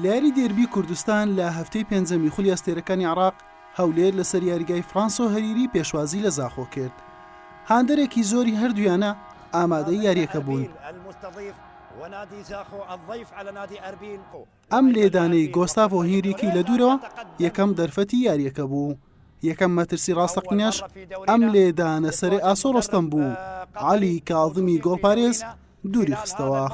لە یاری دێربی کوردستان لە هەفتەی پێنجەمی خولی ئەستێرەکانی عێراق، هەولێر لەسەر یاریگای فرانسۆ هەریری پێشوازی لە زاخۆ کرد، هاندەرێکی زۆری هەردوویانە ئامادەی یارییەکە بوون. ئەم لێدانەی گۆستاڤۆ هینریکی لە دوورەوە یەکەم دەرفەتی یارییەکە بوو. یەکەم مەترسی ڕاستەقینەش ئەم لێدانە سەرێ ئاسۆ ڕۆستەم بوو عەلی کاظمی گۆڵپارێز دووری خستەوە.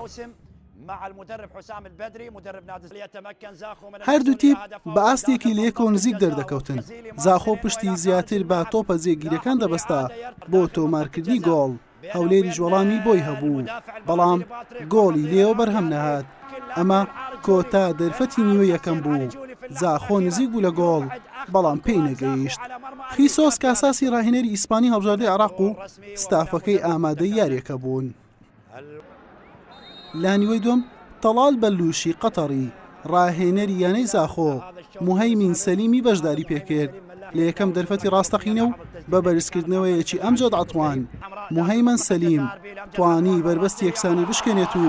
هەردوو تیپ بە ئاستێکی لەیەکۆ نزیک دەردەکەوتن زاخۆ پشتی زیاتر بە تۆپە جێگیرەکان دەبەستا بۆ تۆمارکردنی گۆڵ هەولێریش وەڵامی بۆی هەبوو، بەڵام گۆڵی لێیەوە بەرهەم نەهات، ئەمە کۆتا دەرفەتی نیوەی یەکەم بوو، زاخۆ نزیک بوو لە گۆڵ، بەڵام پێی نەگەیشت. خیسۆس کاساسی راهێنەری ئیسپانی هەڵبژاردەی عێراق و ستافەکەی ئامادەی یارییەکە بوون. لە نیوەی دووەم تەڵال بەلووشی قەتەڕی، راهێنەری یانەی زاخۆ، موهەیمین سەلیمی بەشداری پێکرد لە یەکەم دەرفەتی راستەقینە و بە بەرزکردنەوەیەکی ئەمجەد عەتوان، موهەیمەن سەلیم توانی بەربەستی یەکسانی بشکێنێت و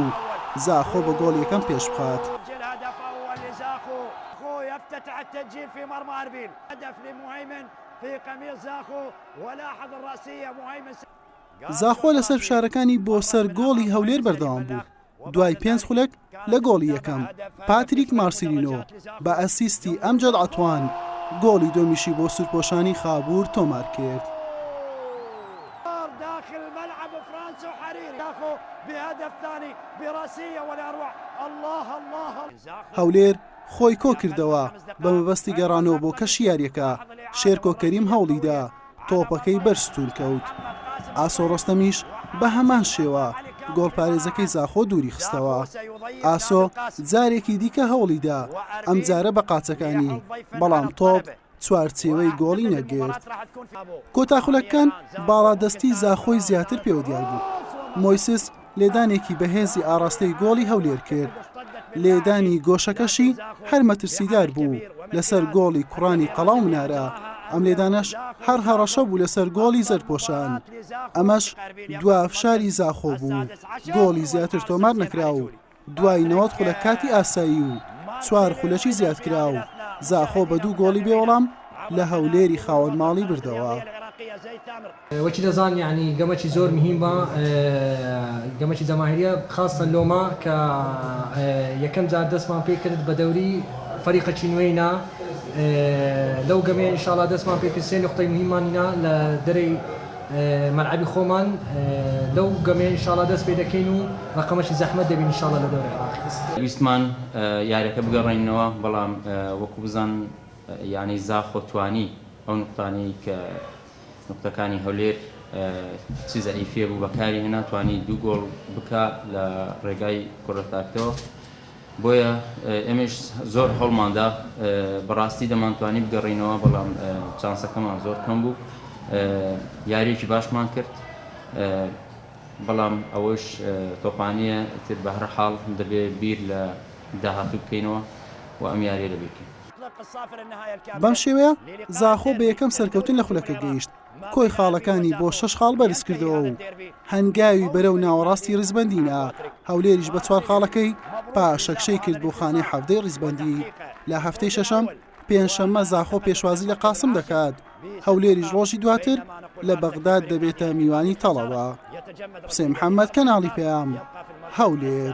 زاخۆ بە گۆڵ یەکەم پێشبخات. زاخۆ لەسەر فشارەکانی بۆ سەر گۆڵی هەولێر بەردەوام بوو، دوای پێنج خولەک لە گۆڵی یەکەم، پاتریک مارسیلینۆ بە ئەسیستی ئەمجەد عەتوان گۆڵی دووەمیشی بۆ سوورپۆشانی خابوور تۆمارکرد. هەولێر خۆی کۆکردەوە، بەمەبەستی گەڕانەوە بۆ کەشی یارییەکە، شێرکۆ کەریم هەوڵیدا، تۆپەکەی بەر ستوون کەوت، ئاسۆ ڕۆستەمیش بە هەمان شێوە گۆڵپارێزەکەی زاخۆ دووری خستەوە. ئاسۆ جارێکی دیکە هەوڵی دا، ئەمجارە بە قاچەکانی، بەڵام تۆپ چوارچێوەی گۆڵی نەگرت. کۆتا خولەکەکان باڵادەستی زاخۆی زیاتر پێوە دیار بوو. مۆیسس لێدانێکی بەهێزی ئاڕاستەی گۆڵی هەولێر کرد، لێدانی گۆشەکەشی هەر مەترسیدار بوو لەسەر گۆڵی کوڕانی قەڵا و منارە، ئەم لێدانەش هەر هەڕەشە بوو لەسەر گۆڵی زەردپۆشان، ئەمەش دوا فشاری زاخۆ بوو، گۆڵی زیاتر تۆمار نەکرا و دوای نەوەد خولەک کاتی ئاسایی و چوار خولەکی زیادکراو، زاخۆ بە دوو گۆڵی بێ وەڵام لە هەولێری خاوەن ماڵی بردەوە. وەکی دەزان یەعنی گەمەکی زۆر مهیمە گەمەکی جەماهیریە خاسە لۆمە کە یەکەم جار دەسمان پێ کرد بە دەوری فەریقەکی نوێینا لەو گەمەیە انشااللە دەسمان پێ کرد سێ نوقتەی مهیممانینا لە دەرەی مەلعەبی خۆمان لەو گەمەیە ان شاءاللە دەست پێ دەکەین و رەقەمەکی زەحمەت دەبین ان شاءاللە لە دەورە عێراقی. ویستمان یاریەکە بگەڕێنینەوە بەڵام وەکو بزان یانەی زاخۆ توانی ئەو نوقتانەی کە نوقتەکانی هەولێر چ زەعیفیە بوو بەکاری هێنا توانی دوو گۆڵ بکا لە ڕێگای کۆرە تاکتەوە. بۆیە ئێمەیش زۆر هەوڵماندا بەڕاستی دەمانتوانی بگەڕێینەوە بەڵام چانسەکەمان زۆر کەم بوو یاریەکی باشمان کرد بەڵام ئەوەش تۆپانیە تر بەهرە حاڵ دەبێ بیر لە داهاتوو بکەینەوە و ئەم یاریە لەبیرکەین. بەم شێوەیە زاخۆ بە یەکەم سەرکەوتن لە خولەکە گەیشت. کۆی خاڵەکانی بۆ شەش خاڵ بەرزکردەوە و هەنگاوی بەرەو ناوەڕاستی ڕیزبەندینا هەولێریش بە چوار خاڵەکەی پاشەکشەی کرد بۆ خانەی حەفتەی ڕیزبەندی لە هەفتەی شەشەم پێنجشەممە زاخۆ پێشوازی لە قاسم دەکات هەولێریش ڕۆژی دواتر لە بەغداد دەبێتە میوانی تەڵەوە حسێن محەممەد کەناڵی پەیام هەولێر.